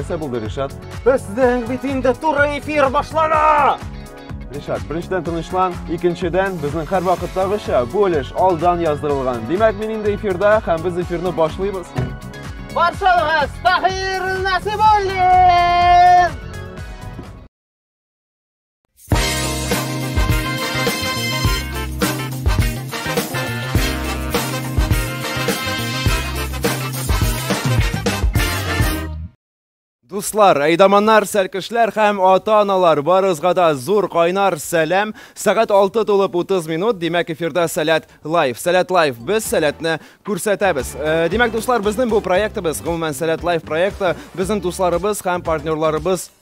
Нәрсә булды, Ришат? Безнең бит инде туры эфир башлана! Ришат, беренчедән тынычлан, икенчедән безнең һәр вакыттагыча бу өлеш алдан яздырылган. Димәк, мин инде эфирда һәм без эфирны башлыйбыз. Баршалыгыз Таһир Насибуллин! Дуслар, әйдаманнар, сәркешләр һәм ата-аналар барызга да зур кайнар сәлам. Сәгать 6 тулып 30 минут, димәк эфирда Сәләт Лайф. Сәләт Лайф, без сәләтне күрсәтәбез. Э, димәк, дуслар, безнең бу проектыбыз, гомумән Сәләт Лайф проекты, безнең дусларыбыз һәм партнерларыбыз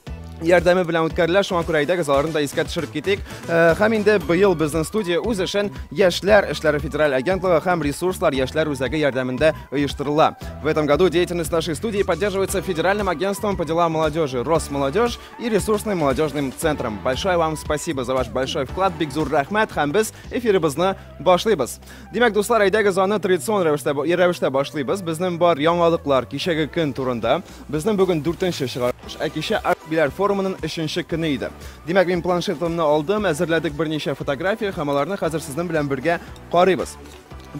ярдәме белән үткәрелә. Шуңа күрә әйдәгез, аларны да искә төшереп китик. Э, һәм инде быел безнең студия үз эшен Яшьләр эшләре федераль агентлыгы һәм ресурслар яшьләр үзәге ярдәмендә оештырыла. В этом году деятельность нашей студии поддерживается Федеральным агентством по делам молодежи Росмолодежь и ресурсным молодежным центром. Большое вам спасибо за ваш большой вклад. Бик зур рәхмәт һәм без эфирыбызны башлыйбыз. Димәк, дуслар, әйдәгез аны традицион рәвештә рәвештә башлыйбыз. Безнең бар яңалыклар кичәге көн турында. Безнең бүген дүртенче чыгарылыш, ә кичә Арт-Биләр форумының өченче көне иде. Димәк, мин планшетымны алдым, әзерләдек берничә фотография һәм аларны хәзер сезнең белән бергә карыйбыз.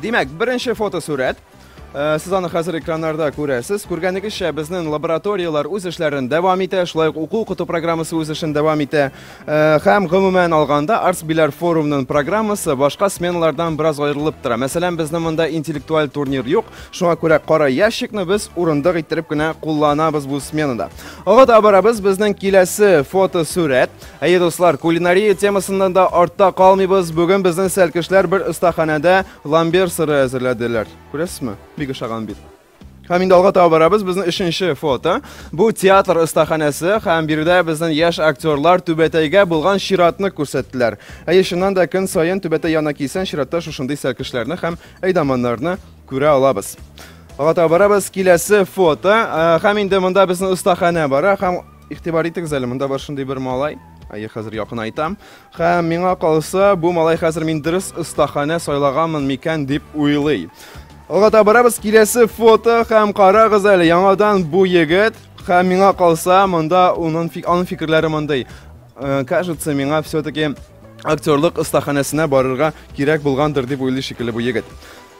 Димәк, беренче фотосурәт. Э, сез аны хәзер экраннарда күрәсез. Күргәнегезчә, безнең лабораторияләр үз эшләрен дәвам итә, шулай ук уку-укыту программасы үз эшен дәвам итә. Һәм, гомумән алганда, Артсбиләр форумның программасы башка сменалардан бераз аерылып тора. Мәсәлән, безнең монда интеллектуаль турнир юк, шуңа күрә кара ящикны без урындык иттереп кенә кулланабыз бу сменада. Ага да барабыз, безнең киләсе фотосурәт. Әйе, дуслар, кулинария темасыннан да артта калмыйбыз. Бүген безнең сәлкешләр бер остаханәдә ламбер сыры әзерләделәр. Күрәсезме? Бик ошаган бит. Һәм инде алга таба барабыз. Безнең өченче фото. Бу театр остаханәсе һәм биредә безнең яшь актерлар Түбәтәйгә булган чиратны күрсәттеләр. Әйе, чыннан да көн саен Түбәтәй янына килсәң, чиратта шушындый сәлкешләрне һәм әйдаманнарны күрә алабыз. Алга таба барабыз. Киләсе фото. Ә, Һәм инде монда безнең остаханә бара һәм Игътибар итегез әле, монда бар шундый бер малай. Әйе, хәзер якынайтам. Һәм миңа калса, бу малай хәзер мин дөрес остаханә сайлаганмын микән дип уйлый. Алга табарабыз киләсе фото һәм карагыз әле, яңадан бу егет һәм миңа калса, монда оның аның фикерләре мондый. Э, кажется, миңа все-таки актерлык остаханәсенә барырга кирәк булгандыр дип уйлый шикелле бу егет.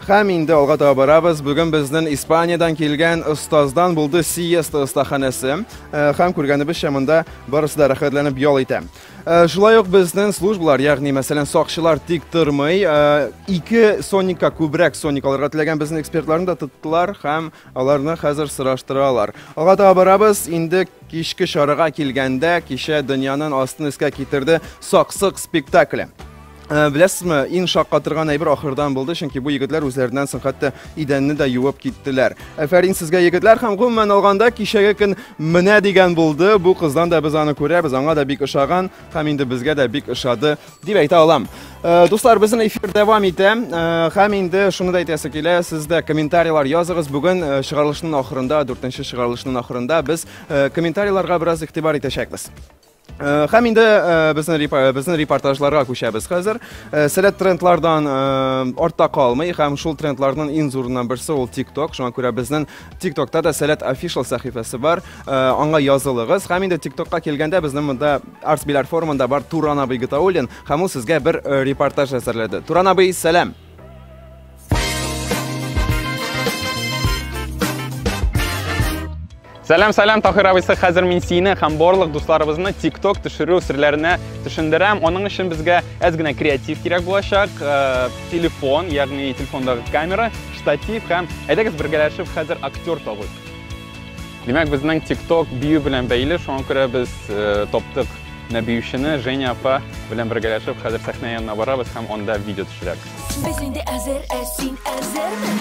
Һәм инде алга таба барабыз. Бүген безнен Испаниядән килгән остаздан булды Сиеста остаханәсе. Һәм күргәнебезчә монда барысы да рәхәтләнеп ял итә. Э, шулай ук безнең службалар ягъни мәсәлән сакчылар тик тормый э, ике соникка күбрәк соник алырга теләгән безнең экспертларны да тоттылар һәм аларны хәзер сораштыралар алга таба барабыз инде кичке чарага килгәндә кичә дөньяның астын өскә китерде саксык спектакле Э, беләсезме иң шаккатырган әйбер ахырдан булды чөнки бу егетләр үзләреннән соң хәтта идәнне дә юып киттеләр әфәрин сезгә егетләр һәм гомумән алганда кичәге көн менә дигән булды бу кыздан да без аны күрәбез аңа да бик ошаган һәм инде безгә дә бик ошады дип әйтә алам э, дуслар безнең эфир дәвам итә э, һәм инде шуны да әйтәсе килә сез дә комментарийлар языгыз бүген чыгарылышның ахырында дүртенче чыгарылышның ахырында без комментарийларга бераз игътибар итәчәкбез Э, һәм инде э, безнең э, безнең репортажларга күчәбез хәзер. Сәләт трендлардан артта калмый һәм шул трендларның иң зурыннан берсе ул TikTok. Шуңа күрә безнең TikTokта да Сәләт official сәхифәсе бар. Аңа язылыгыз. Һәм инде TikTokка килгәндә безнең монда Арсбиләр форумында бар Туран абый Гитаулин һәм ул сезгә бер репортаж әзерләде. Туран абый, сәлам. Сәлам, сәлам, Тахир абыйсы, хәзер мин сине һәм барлык дусларыбызны TikTok төшерү серләренә төшендерәм. Аның өчен безгә әз генә креатив кирәк булачак. Э, телефон, ягъни телефондагы камера, штатив һәм әйдәгез бергәләшеп хәзер актер табыйк. Димәк, безнең TikTok бию белән бәйле, шуңа күрә без э, таптык Нәбиючене Женя апа белән бергәләшеп хәзер сәхнә янына барабыз һәм анда видео төшерәбез. Без инде әзер, ә син әзерме?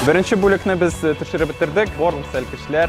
Беренче бүлекне без төшереп бетердек. Барлык сәлкешләр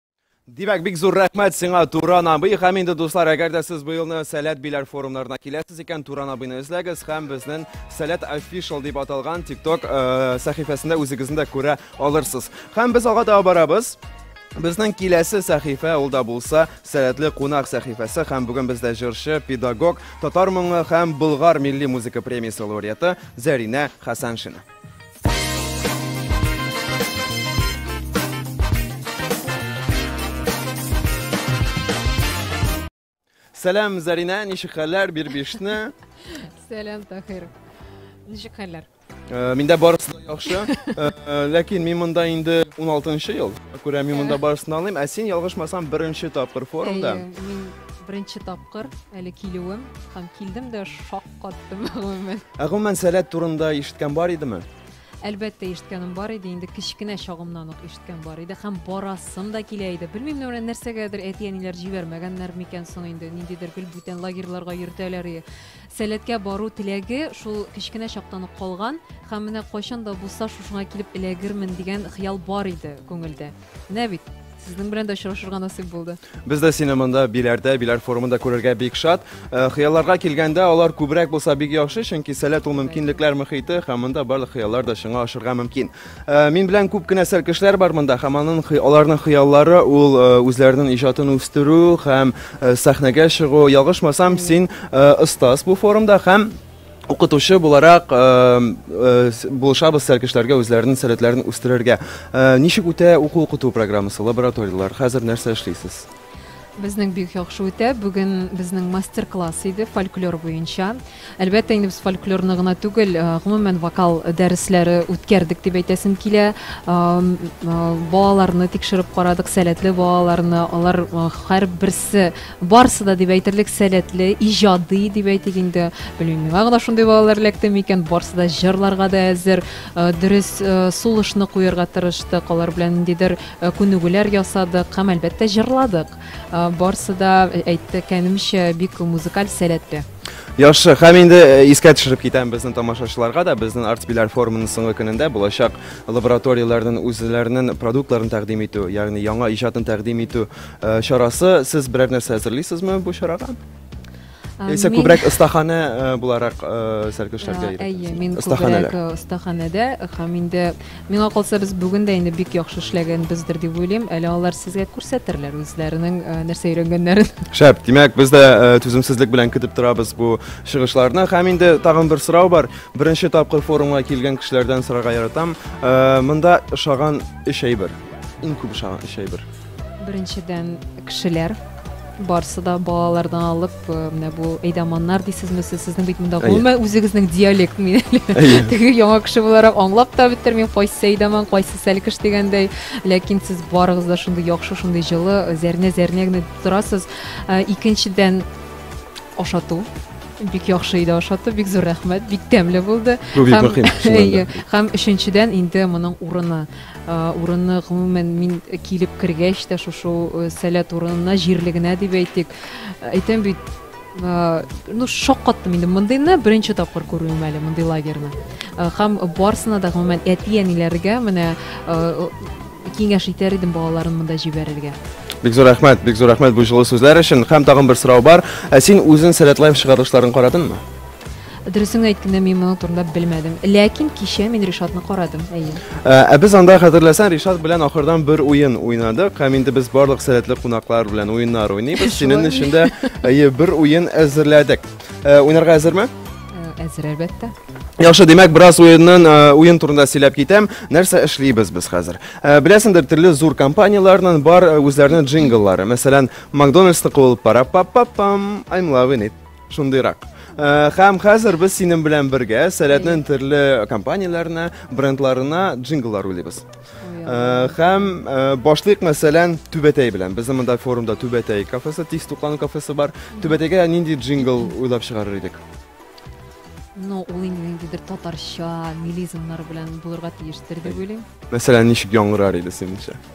Димәк, бик зур рәхмәт сиңа, Туран абый. Һәм инде, дуслар, әгәр дә сез быелны Сәләт Биләр форумнарына киләсез икән, Туран абыйны эзләгез һәм безнең Сәләт Official дип аталган TikTok э, сәхифәсендә үзегезне дә күрә алырсыз. Һәм без алга таба барабыз. Безнең киләсе сәхифә ул да булса Сәләтле кунак сәхифәсе һәм бүген бездә җырчы, педагог, татар моңы һәм Болгар милли музыка премиясе лауреаты Зәринә Хәсәншина. Сәлам, Зарина, ничек хәлләр, бирбишне? Сәлам, Тахир. Ничек хәлләр? Э, миндә барысы да яхшы. Э, э, ләкин мин монда инде 16 ел. Күрә мин монда барысын алыйм. Ә син ялгышмасам беренче тапкыр форумда. Мин беренче тапкыр әле килүем һәм килдем дә шок Каттым, гомумән. Ә гомумән сәләт турында ишеткән бар идеме? Әлбәттә, ишеткәнем бар иде, инде кечкенә чагымнан ук ишеткән бар иде һәм барасым да килә иде. Белмим, менә нәрсәгәдер әти-әниләр җибәрмәгәннәр микән соң инде, ниндидер гел бүтән лагерьларга йөртәләр иде. Сәләткә бару теләге шул кечкенә чактан ук калган һәм менә кайчан да булса шушыңа килеп эләгермен дигән хыял бар иде күңелдә. Менә бит, сезнең белән дә очрашырга насыйп булды. Без дә сине монда биләрдә, биләр форумында күрергә бик шат. Э, хыялларга килгәндә, алар күбрәк булса бик яхшы, чөнки сәләт ул мөмкинлекләр мөхите һәм монда барлык хыяллар да чыңга ашырга мөмкин. Э, мин белән күп кенә сәл кешеләр бар монда һәм аның аларның хыяллары ул э, үзләренең иҗатын үстерү һәм сәхнәгә чыгу. Ялгышмасам, син остаз бу форумда һәм Укытучы буларак булышабыз сәркешләргә үзләренең сәләтләрен үстерергә. Ничек үтә уку-укыту программасы, лабораторияләр? Хәзер нәрсә эшлисез? Безнең бик яхшы үтә. Бүген безнең мастер-класс иде фольклор буенча. Әлбәттә, инде без фольклорны гына түгел, гомумән вокал дәресләре үткәрдек дип әйтәсем килә. Балаларны тикшереп карадык, сәләтле балаларны. Алар һәрберсе Барысы да дип әйтерлек сәләтле, иҗади дип әйтик инде. Белмим, миңа гына шундый балалар эләкте микән? Барысы да җырларга да әзер, э, дөрес э, сулышны куярга тырыштык, алар белән ниндидер э, күнегүләр ясадык һәм әлбәттә җырладык. Барысы да әйткәнемчә бик музыкаль сәләтле. Яхшы, һәм инде э, искә төшереп китәм безнең тамашачыларга да, безнең артбиләр форумының соңгы көнендә булачак лабораторияләрнең үзләренең продуктларын тәкъдим итү, ягъни яңа иҗатын тәкъдим итү Э, чарасы сез берәр нәрсә әзерлисезме бу чарага яисә күбрәк остаханә э, буларак э, сәркешләргә әйе мин күбрәк остаханәдә һәм инде миңа калса без бүген дә инде бик яхшы эшләгәнбездер дип уйлыйм әле алар сезгә күрсәтерләр үзләренең нәрсә өйрәнгәннәрен шәп димәк без дә түземсезлек белән көтеп торабыз бу чыгышларны һәм инде тагын бер сорау бар беренче тапкыр форумга килгән кешеләрдән сорарга яратам монда ошаган өч әйбер иң күп ошаган өч әйбер Беренчедән, кешеләр, барсы да балалардан алып, э, менә бу әйдаманнар дисезме сез, сезнең бит монда гомумән үзегезнең диалект мин теге яңа кеше буларак аңлап та бетермим, кайсы әйдаман, кайсы сәлкеш дигәндәй, ләкин сез барыгыз да шундый яхшы, шундый җылы, э, зәрнә зәрнә генә торасыз. Э, икенчедән, ашату бик яхшы иде ашату бик зур рәхмәт бик тәмле булды һәм өченчедән инде моның урыны Урыны, гомумән, мин килеп кергәч тә шушы сәләт урынына, җирлегенә дип әйтик. Әйтәм бит, ну, шаккаттым инде мондыйны беренче тапкыр күрүем әле мондый лагерьны. Һәм барсына да, гомумән, әти-әниләргә менә киңәш итәр идем балаларын монда җибәрергә. Бик зур рәхмәт, бик зур рәхмәт бу җылы сүзләр өчен. Һәм тагын бер сорау бар. Ә син үзең Сәләтлаев чыгарылышларын карадыңмы? Дөресен әйткәндә, мин моның турында белмәдем. Ләкин кичә мин Ришатны карадым, әйе. Ә ә без анда хәтерләсәң, Ришат белән ахырдан бер уен уйнадык. Һәм инде без барлык сәләтле кунаклар белән уеннар уйныйбыз. Синең Шулай. өчен дә әйе, бер уен әзерләдек. Ә, Уйнарга әзерме? Э, Әзер, әлбәттә. Яхшы, димәк, бераз уеннан ә, уен турында сөйләп китәм. Нәрсә эшлибез без хәзер? Ә, Беләсеңдер, төрле зур компанияләрнең бар ә, үзләренең джингллары. Мәсәлән, Макдональдсны куылып пара пап пам I'm loving it. Шундыйрак. Хәм хәзер без синең белән бергә сәләтнең төрле компанияләренә, брендларына джингллар уйлыйбыз. Хәм башлык мәсәлән Түбәтәй белән. Безнең монда форумда Түбәтәй кафесы, тиз туклану кафесы бар. Түбәтәйгә нинди джингл уйлап чыгарыр идек? Ну, ул инде ниндидер татарча милизмнар белән булырга тиештер дип уйлыйм. Мәсәлән, ничек яңгырар иде синеңчә?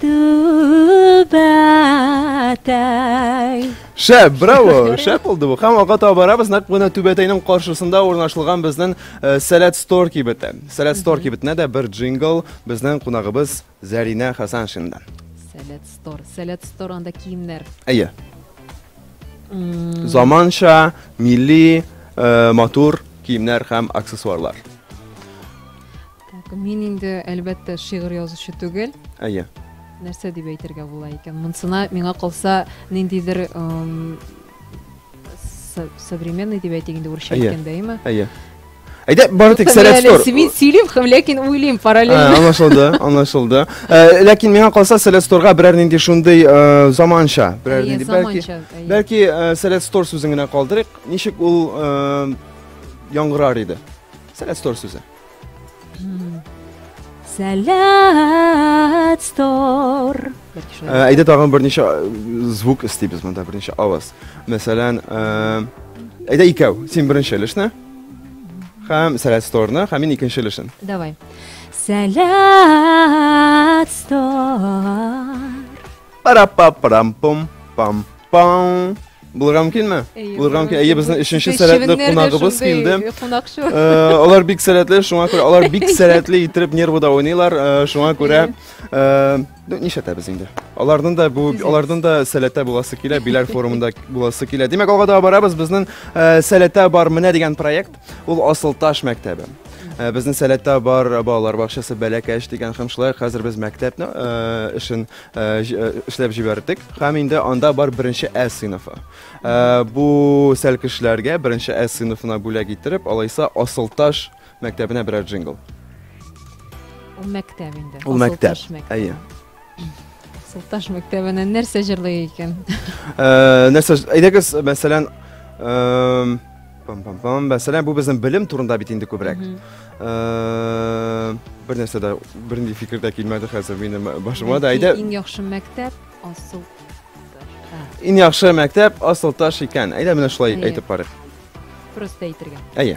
Түбәтәй. Шәп, браво! Шәп булды бу. Һәм алга таба барабыз, нәкъ менә Түбәтәйнең каршысында урнашылган безнең э, Сәләт Стор кибете. Сәләт Стор кибетенә дә бер джингл безнең кунагыбыз Зәринә Хәсәншиннан. Сәләт стор. Сәләт стор анда киемнәр. Әйе. Заманча, милли, э, матур киемнәр һәм аксессуарлар. Так, мин инде, әлбәттә, шигырь язучы түгел. Әйе. Нәрсә дип әйтергә була икән? Монсына миңа калса, ниндидер современный дип әйтик инде урысча әйткәндә, әйеме? Әйе. Әйдә, бары тик сәләт стор. Мин сөйлим, һәм ләкин уйлыйм параллельно. Аңлашылды, аңлашылды. Э, ләкин миңа калса сәләт сторга берәр нинди шундый э, заманча, берәр нинди бәлки. Бәлки э, сәләт стор сүзен генә калдырыйк. Ничек ул яңгырар иде? Сәләт стор сүзе. Сәләт стор. Ә, Әйдә тагын берничә э, звук эстибез монда, берничә аваз. Мәсәлән, э, әйдә икәү, син беренче өлешне һәм сәләт сторны, һәм мин икенче өлешен. Давай. Сәләт стор. пара па парам пум пам пам Булырга мөмкинме? Булырга мөмкин. Әйе, безнең өченче сәләтле кунагыбыз килде. Э, алар бик сәләтле, шуңа күрә алар бик сәләтле итеп нервыда уйныйлар, э, шуңа күрә э, ну, нишләтәбез инде. Аларның да бу, аларның да сәләтә буласы килә, Биләр форумында буласы килә. Димәк, алга да барабыз, безнең сәләтә бар менә дигән проект. Ул Асылташ мәктәбе. Э, безнең сәләттә бар балалар бакчасы бәләкәч дигән һәм шулай хәзер без мәктәпне э, эшен э, эшләп җибәрдек һәм инде анда бар беренче ә сыйныфы бу сәлкешләргә беренче ә сыйныфына бүләк иттереп алайса асылташ мәктәбенә берәр джингл ул мәктәп инде ул мәктәп әйе Султаш мәктәбенә нәрсә җырлый икән? Э, нәрсә, әйдәгез, мәсәлән, эм, пам-пам-пам, мәсәлән, бу безнең белем турында бит инде күбрәк. Э, Бер нәрсә дә, бернинди фикер дә килмәде хәзер минем башыма да. Әйдә, Иң яхшы мәктәп асыл. иң яхшы мәктәп Асылташ икән. Әйдә менә шулай Әйе. әйтеп карыйк. Просто әйтергә. Әйе.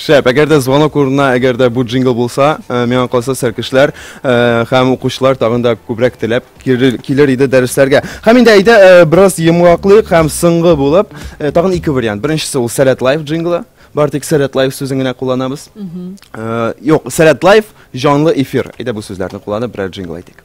Шәп! Әгәр дә звонок урынына әгәр дә бу джингл булса, миңа калса сәркешләр һәм укучылар тагын да күбрәк теләп килер иде дәресләргә. Һәм инде әйдә бераз йомгаклыйк һәм соңгы булып тагын ике вариант. Беренчесе ул Сәләт Лайф джинглы. Бары тик Сәләт Лайф сүзен генә кулланабыз. Юк, Сәләт Лайф җанлы эфир. Әйдә бу сүзләрне кулланып берәр джингл әйтик.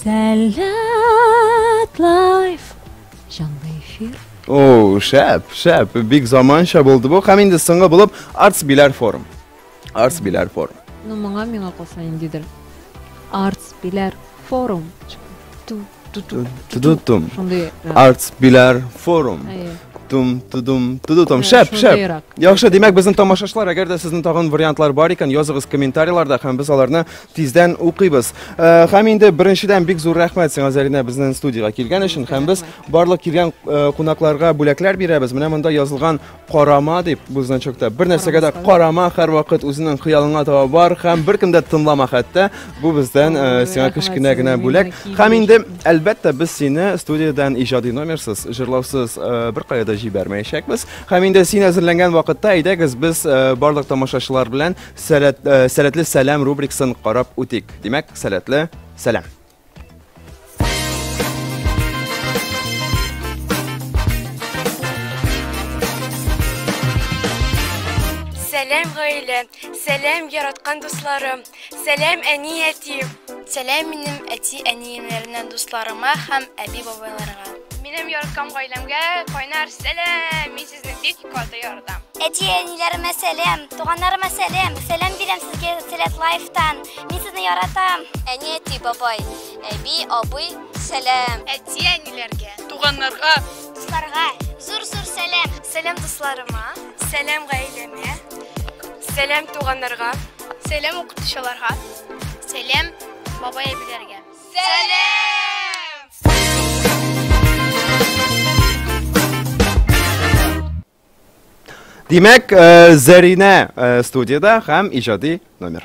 Сәләт лайф! Җанлы эфир. О, шәп, шәп. Бик заманча булды бу. Һәм инде соңгы булып Arts Bilar Forum. Arts Bilar Forum. Ну, моңа миңа калса индидер. Arts Bilar Forum. Ту ту ту ту ту. Шундый. Arts Bilar Forum. Әйе. тудум тудум тудудум шәп шәп яхшы димәк безнең тамашачылар әгәр дә сезнең тагын вариантлар бар икән языгыз комментарийларда һәм без аларны Тиздән укыйбыз. Э, һәм инде беренчедән бик зур рәхмәт сиңа Зарина безнең студиягә килгән өчен. Һәм без барлык килгән э, кунакларга бүләкләр бирәбез. Менә монда язылган карама дип бу значокта. Бер нәрсәгә дә карама, һәрвакыт үзенең хыялыңа таба бар һәм беркем дә тыңлама хәтта. Бу бездән э, сиңа кечкенә генә бүләк. Һәм инде әлбәттә без сине студиядән иҗади номерсыз, җырлаусыз бер кая да җибәрмәячәкбез. Һәм инде син әзерләнгән вакытта әйдәгез без барлык тамашачылар белән Сәләт, э, сәләтле сәлам рубрикасын карап үтик. Димәк, сәләтле сәлам. Сәлам гаилә, сәлам яраткан дусларым, сәлам әни әти. Сәлам минем әти әниемнәреннән дусларыма һәм әби бабайларга. Минем яраткан гаиләмгә кайнар сәлам! Сезнең бик каты ярдәм. Әти, әниләремә сәлам, туганнарыма сәлам. Сәлам бирәм сезгә Сәләт Лайфтан. Мин сезне яратам. Әни, әти, бабай, әби, абый, сәлам. Әти, әниләргә, туганнарга, дусларга зур-зур сәлам. Сәлам дусларыма, сәлам гаиләмә, сәлам туганнарга, сәлам укытучыларга, сәлам бабай-әбиләргә. Димәк, э, Зәринә э, студияда һәм иҗади номер.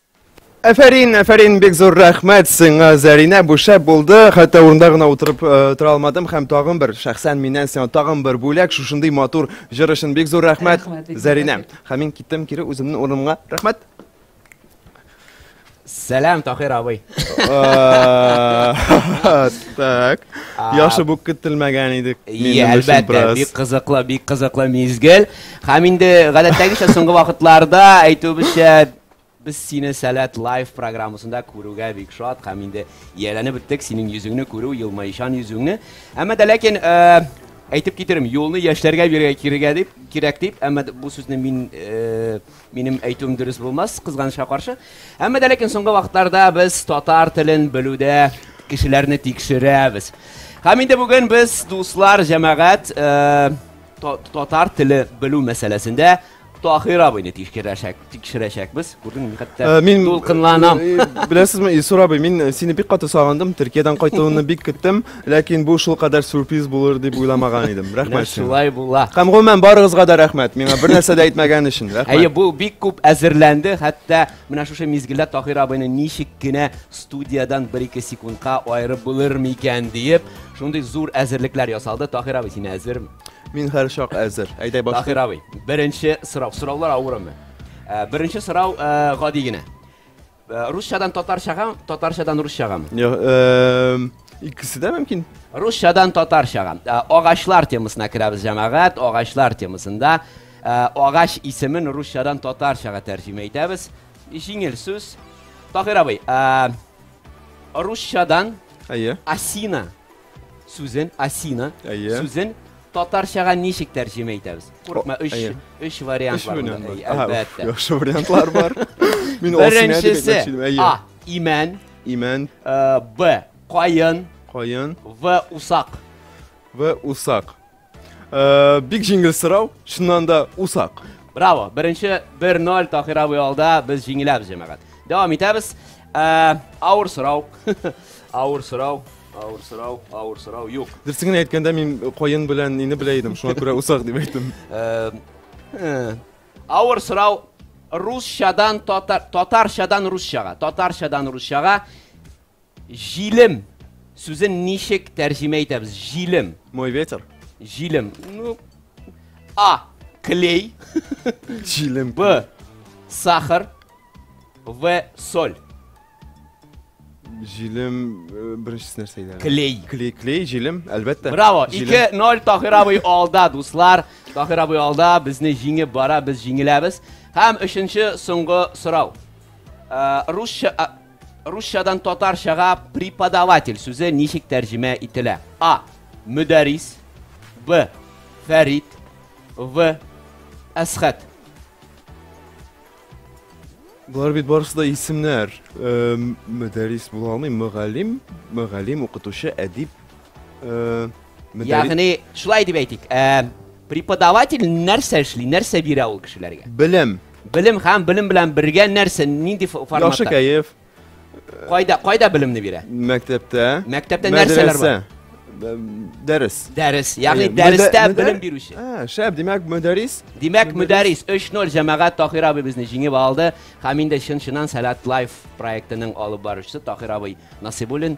Әфәрин, әфәрин, бик зур рәхмәт сиңа, Зәринә, бу шәп булды. Хәтта урында гына утырып э, тора алмадым һәм тагын бер шәхсән миннән сиңа тагын бер бүләк шушындый матур җыр өчен бик зур рәхмәт, Рәхмәт, бик зур Зәринә. рәхмәт. Һәм мин киттем кире үземнең урыныма. Рәхмәт. Сәлам, Тахир абый. Э, Так. Яхшы бу көтелмәгән идек. Иә, минем өчен әлбәттә, бераз. бик кызыклы, бик кызыклы мизгел. Һәм инде гадәттәгечә соңгы вакытларда әйтүебезчә Без сине Сәләт Лайф программасында күрүгә бик шат һәм инде ияләнеп беттек синең йөзеңне күрү, елмаючан йөзеңне. Әмма дә ләкин әйтеп китерим, юлны яшьләргә бирергә кирегә дип, кирәк дип, әмма бу сүзне мин минем әйтүем дөрес булмас, кызганычка каршы. Әмма дә ләкин соңгы вакытларда без татар телен белүдә кешеләрне тикшерәбез. Һәм инде бүген без дуслар, җәмәгать, Татар теле белү мәсьәләсендә Тахир абыйны тикшерәчәк, тикшерәчәкбез. Күрдеңме, хәтта э, мин дулкынланам. Э, э, беләсезме, Исур абый, мин сине бик каты сагындым, Төркиядән кайтуыңны бик көттем, ләкин бу шул кадәр сюрприз булыр дип уйламаган идем. Рәхмәт сиңа. Шулай була. Һәм гомумән барыгызга да рәхмәт, миңа бер нәрсә дә әйтмәгән өчен. Рәхмәт. Әйе, бу бик күп әзерләнде, хәтта Менә шушы мизгелдә Таһир абыйны ничек кенә студиядән бер-ике секундка аерып булыр микән диеп, шундый зур әзерлекләр ясалды. Таһир абый, син әзерме? Мин һәр чак әзер. Әйдә башлыйк. Таһир абый, беренче сорау. Сораулар авырмы? Ә, Беренче сорау ә, гади генә. Ә, Русчадан татарчага, татарчадан русчагамы? Йо, эм, Икесе дә мөмкин. Русчадан татарчага. Ә, Агачлар темасына керәбез, җәмәгать, агачлар темасында. Ә агач исемен русчадан татарчага тәрҗемә итәбез. Җиңел сүз. Таһир абый, ә русчадан Әйе. осина сүзен, осина Әйе. сүзен татарчага ничек тәрҗемә итәбез? Курыкма, О, өч, әйе. өч вариант Өч бар. вариант монда. бар. Әй, Ага, Әлбәттә. Яхшы вариантлар бар. Мин осина дип Беренчесе әйтмәкче идем. Әйе. А. Имән. Имән, э, Б. Каен. каен В. Усак. вә усак. Э, бик җиңел сорау, шуннан да усак. Браво! Беренче 1-0 Тахир абый алда, без җиңеләбез, җәмәгать. Дәвам итәбез. Э, авыр сорау. Авыр сорау. Авыр сорау, авыр сорау юк. Дөресен генә әйткәндә мин коен белән нине белә идем, шуңа күрә усак дип әйттем. Э, э, авыр сорау русчадан татар татарчадан русчага, татарчадан русчага Җилем сүзен ничек тәрҗемә итәбез? Җилем. Мой ветер. Җилем. Ну, А. Клей. Җилем. Б. Сахар. В. Соль. Җилем э, беренчесе нәрсә иде? Клей. Клей, клей, җилем, әлбәттә. Браво. 2-0 Тахир абый алда, дуслар. Тахир абый алда, безне җиңеп бара, без җиңеләбез. Һәм өченче соңгы сорау. Э, русча Русчадан татарчага преподаватель сүзе ничек тәрҗемә ителә? А. Мөдәрис. Б. Фәрит. В. Әсхәт. Болар бит барысы да исемнәр. Э, Мөдәрис була алмый, мөгаллим, мөгаллим, укытучы, әдип. Э, мөдәрис- Ягъни, шулай дип әйтик. Ә, Преподаватель нәрсә эшли, нәрсә бирә ул кешеләргә? Белем. Белем һәм белем белән бергә нәрсә, нинди форматта? Яхшы кәеф. Кайда, кайда белемне бирә? Мәктәптә. Мәктәптә нәрсәләр бар? Дәрес. Дәрес. Ягъни дәрестә белем бирүче. Ә, шәп, димәк, мөдәрис. Димәк, мөдәрис 3-0 җәмәгать Тахир абый безне җиңеп алды. Һәм инде чын-чыннан Сәләт Лайф проектының алып баручысы Тахир абый Насыйбуллин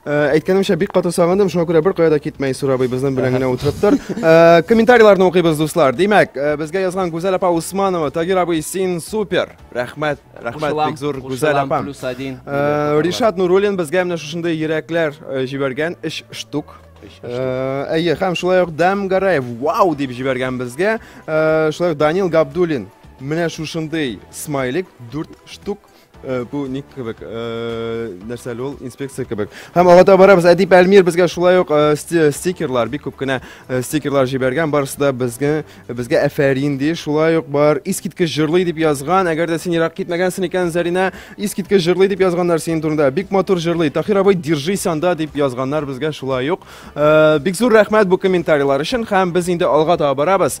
Э, әйткәнемчә бик каты сагындым шуңа күрә беркая да китмә исур абый безнең белән генә утырып тор э, комментарийларны укыйбыз дуслар димәк э, безгә язган гүзәл апа усманова тагир абый син супер рәхмәт рәхмәт бик зур гүзәл апа плюс один ришат нуруллин безгә менә шушындый йөрәкләр җибәргән өч штук әйе һәм шулай ук дәм гараев вау дип җибәргән безгә шулай ук данил габдуллин менә шушындый смайлик дүрт штук Э, бу ник кебек э, нәрсә әле ул инспекция кебек һәм алга таба барабыз әдип әлмир безгә шулай ук э, стикерлар бик күп кенә стикерлар җибәргән барысы да безгә безгә әфәрин ди шулай ук бар искиткеч җырлый дип язган әгәр дә син ерак китмәгәнсең икән зәринә искиткеч җырлый дип язганнар синең турында бик матур җырлый тахир абый держись анда дип язганнар безгә шулай ук бик зур рәхмәт бу комментарийлар өчен һәм без инде алга таба барабыз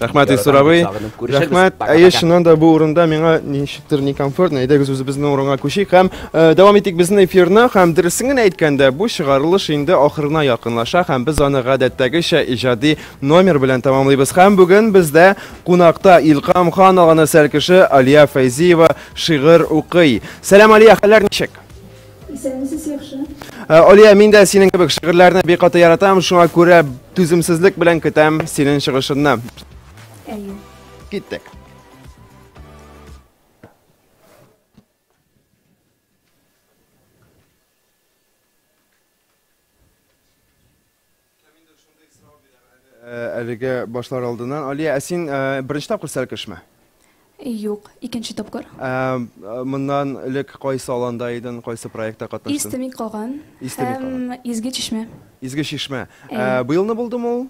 Рәхмәт, Исур абый. Рәхмәт. Әйе, чыннан да бу урында миңа ничектер некомфортно. Әйдәгез үзебезнең урынга күчик һәм э, дәвам итик безнең эфирны. Һәм дөресен генә әйткәндә, бу чыгарылыш инде ахырына якынлаша һәм без аны гадәттәгечә иҗади номер белән тәмамлыйбыз. Һәм бүген бездә кунакта Илкам хан алганы сәл кеше Алия Фәйзиева шигырь укый. Сәлам, Алия, хәлләр ничек? Исәнмесез, яхшы. Э, Олия, мин дә синең кебек шигырьләрне бик каты яратам, шуңа күрә түземсезлек белән көтәм синең чыгышыңны. Әйе. Киттек. Кемдер шундый сорау бирә әле, әлегә башлар алдыннан. Алия, ә син беренче тапкыр Сәлкешме? Юк, икенче тапкыр. Ә моннан элек кайсы аланда идең, кайсы проектта катнаштың? Исте мин каган һәм Изге чишмә. Изге чишмә. Быелны булдымы ул?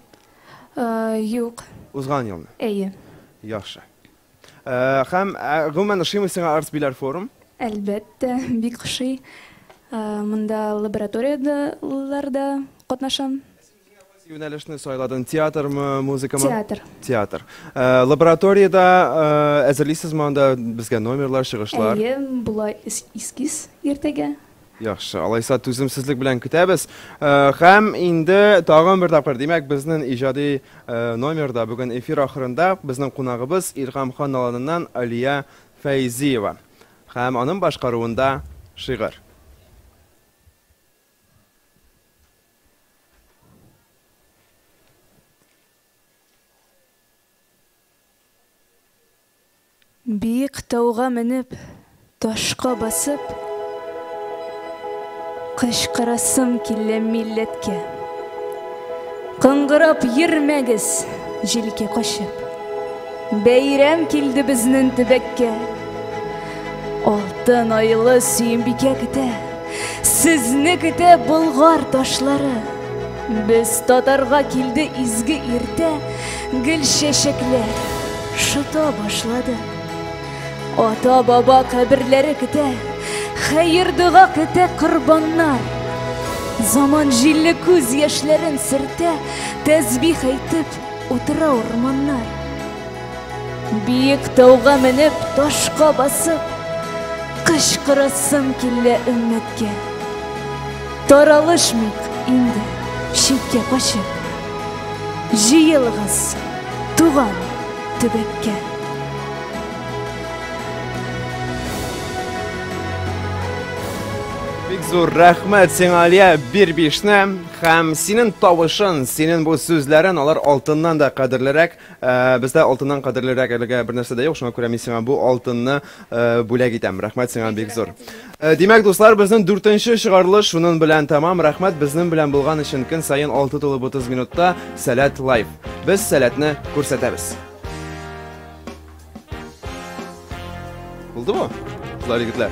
Юк. Узган елны? Әйе. Яхшы. Хәм, гомумән, ошыймы сиңа Артбиләр форум? Әлбәттә, бик ошый. Монда лабораторияләр дә катнашам. Кайсы юнәлешне сайладың, театрмы, музыкамы? Театр. Театр. Лабораториядә әзерлисезме анда безгә номерлар, чыгышлар? Әйе, була эскиз иртәгә. Яхшы, алайса түземсезлек белән көтәбез. Э, һәм инде тагын бер тапкыр, димәк, безнең иҗади э, номерда бүген эфир ахырында безнең кунагыбыз Илһам хан аланыннан Алия Фәйзиева һәм аның башкаруында шигырь. Биек тауга менеп, ташка басып, Кычкырасым килә милләткә. Кыңгырап йөрмәгез, җилкә качып, Бәйрәм килде безнен төбәккә. Алтын айлы Сөембикә көтә, Сезне көтә Болгар ташлары. Без татарга килде изге иртә, гел чәчәкләр шыта башлады. Ата баба каберләре көтә, хәер дога көтә корбаннар. Заман җилле күз яшьләрен сөртә, тәсбих әйтеп утыра урманнар. Биек тауга менеп, ташка басып, кычкырасым килә өммәткә. Таралышмыйк инде читкә качып. Җыелыгыз туган төбәккә. Бик зур рәхмәт сиңа, Алия, бир бишне һәм синең тавышын, синең бу сүзләрен, алар алтыннан да кадерлерәк. Э, бездә алтыннан кадерлерәк әлегә бер нәрсә дә юк, шуңа күрә мин сиңа бу алтынны Э, бүләк итәм. Рәхмәт сиңа бик зур. Э, димәк, дуслар, безнең дүртенче чыгарылыш шунын белән тәмам. Рәхмәт безнең белән булган өчен көн саен 6 тулып 30 минутта Сәләт лайф. Без сәләтне күрсәтәбез. Булдымы? Кызлар, егетләр.